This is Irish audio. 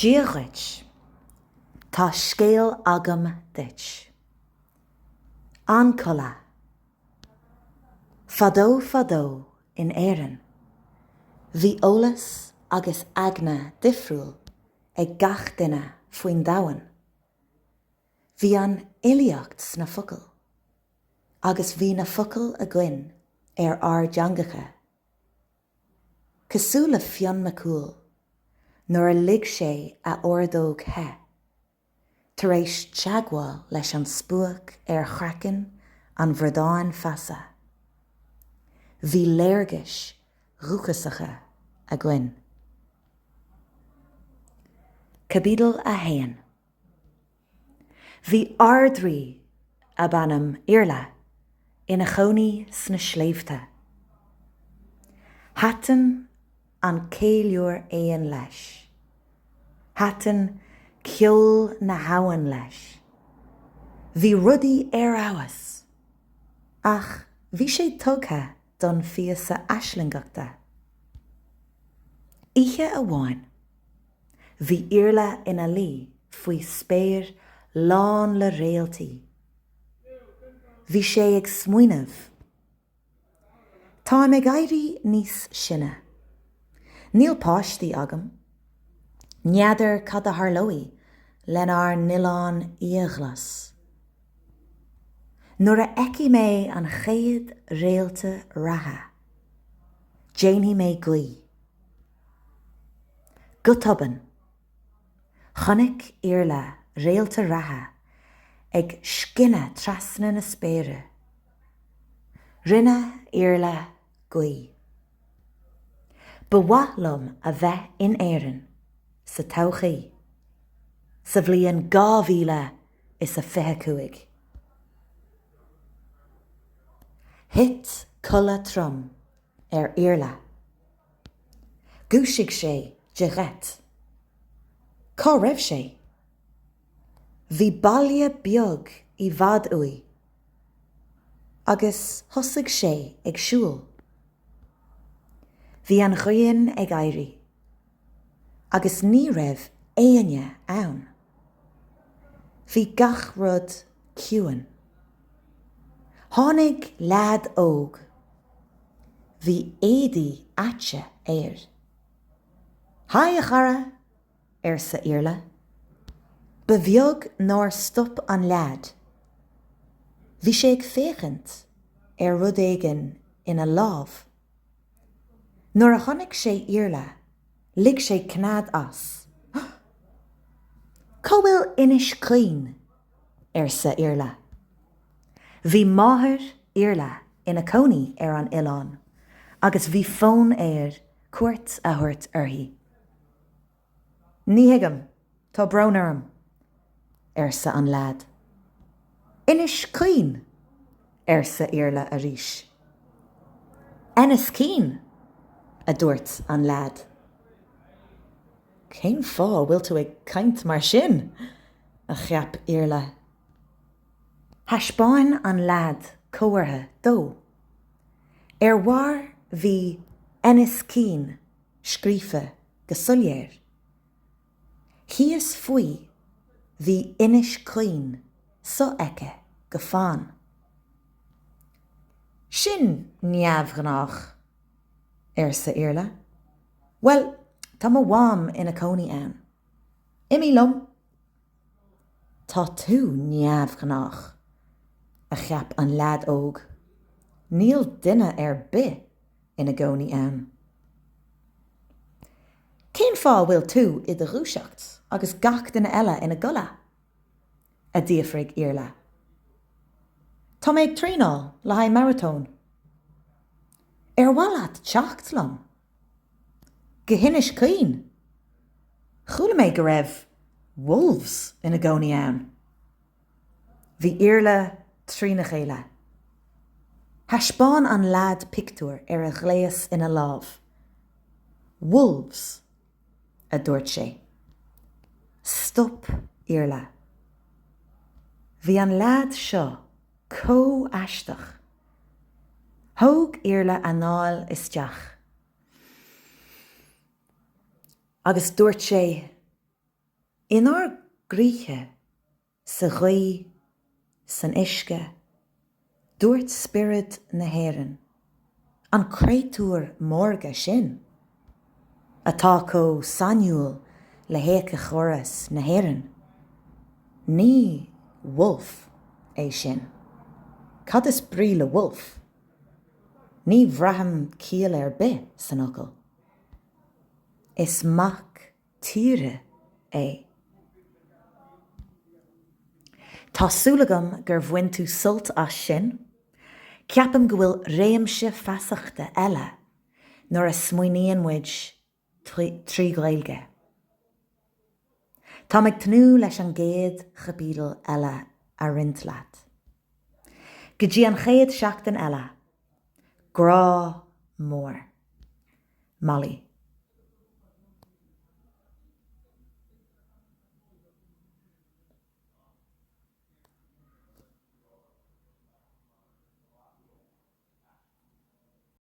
Dia dhuit. Tá scéal agam duit. An codladh. Fadó fadó in Éirinn, bhí eolas agus eagna difriúil ag gach duine faoin domhan. Bhí an fhilíocht sna focail, agus bhí na focail againn ar ár dteangacha. Cosúil le Fionn Mac Cumhaill nuair a ligh sé a ordóg the, tar éis teagmháil leis an spuaic ar chraiceann an Bhradáin Feasa, bhí léargais dhúchasacha againn. Caibidil 1. Bhí Ard-Rí ab ainm Iarla ina chónaí sna sléibhte. Thaitn an ceiliúr éan leis. Thaitn ceol na habhann leis. Bhí rudaí ar fheabhas! Ach bhí sé tugtha don fiosa aislingeachta. Oíche amháin. Bhí Iarla ina luí faoi spéir lán le réaltaí. Bhí sé ag smaoineamh. Táim ag éirí níos sine. Níl páistí agam. N'fheadar cad a tharlóidh lenár n-oileán iathghlas. Nuair a fheicfidh mé an chéad réalta reatha, déanfaidh mé guí. Go tobann, chonaic Iarla réalta reatha ag scinneadh trasna na spéire. Rinne Iarla guí. Ba mhaith liom a bheith in Éirinn sa todhchaí, sa bhliain dhá mhíle is a fiche cúig. Thit codladh trom ar Iarla. Dhúisigh sé de gheit. Cá raibh sé? Bhí baile beag i bhfad uaidh. Agus thosaigh sé ag siúl. Bhí an ghrian ag éirí. Agus ní raibh éinne ann. Bhí gach rud ciúin. Tháinig leaid óg. Bhí éadaí aite air. Haigh, a chara! arsa Iarla. Ba bheag nár stop an leaid. Bhí sé ag féachaint ar rud éigin ina lámh. Nuair a tháinig sé Iarla, lig sé cnead as. Cá bhfuil Inis Caoin? arsa Iarla. Bhí máthair Iarla ina cónaí ar an oileán agus bhí fonn air cuairt a thabhairt uirthi. Ní thuigim, tá brón orm, arsa an leaid. Inis Caoin, arsa Iarla arís. Ennis Keen, a dúirt an leaid. Cén fáth a bhfuil tú ag caint mar sin? a cheap Iarla. Thaispeáin an leaid comhartha dó. Ar bharr bhí Ennis Keen scríofa go soiléir. Thíos faoi bhí Inis Caoin sofheicthe go fann. Sin neamhghnách, arsa Iarla. Bhuel, tá mo mham ina cónaí ann. Imigh liom. Tá tú neamhghnách, a cheap an leaid óg. Níl duine ar bith ina gcónaí ann. Cén fáth a bhfuil tú i do dhúiseacht agus gach duine eile ina gcodladh? a d'fhiafraigh Iarla. Tá mé ag traenáil le haghaidh maratóin. Ar mhaith leat teacht liom? Go hInis Caoin? Chuala mé go raibh wolves ina gcónaí ann. Bhí Iarla trína chéile. Thaispeáin an leaid pictiúr ar a ghléas ina lámh. Wolves, a dúirt sé. Stop Iarla. Bhí an leaid seo chomh haisteach. Thóg Iarla anáil isteach agus dúirt sé. Inár gcroíthe, sa ghaoth, san uisce, dúirt spiorad na hÉireann, an créatúr maorga sin atá chomh sainiúil le héiceachóras na hÉireann, Ní Wolf é sin. Cad is brí le Wolf? Ní bhraithim ciall ar bith san fhocal. Is mac tíre é. Tá súil agam gur bhain tú sult as sin. Ceapaim go bhfuil réimse feasachta eile nuair a smaoiníonn muid trí Ghaeilge. Táim ag tnúth leis an gcéad chaibidil eile a roinnt leat. Go dtí an chéad seachtain eile, Grá mór. Molly.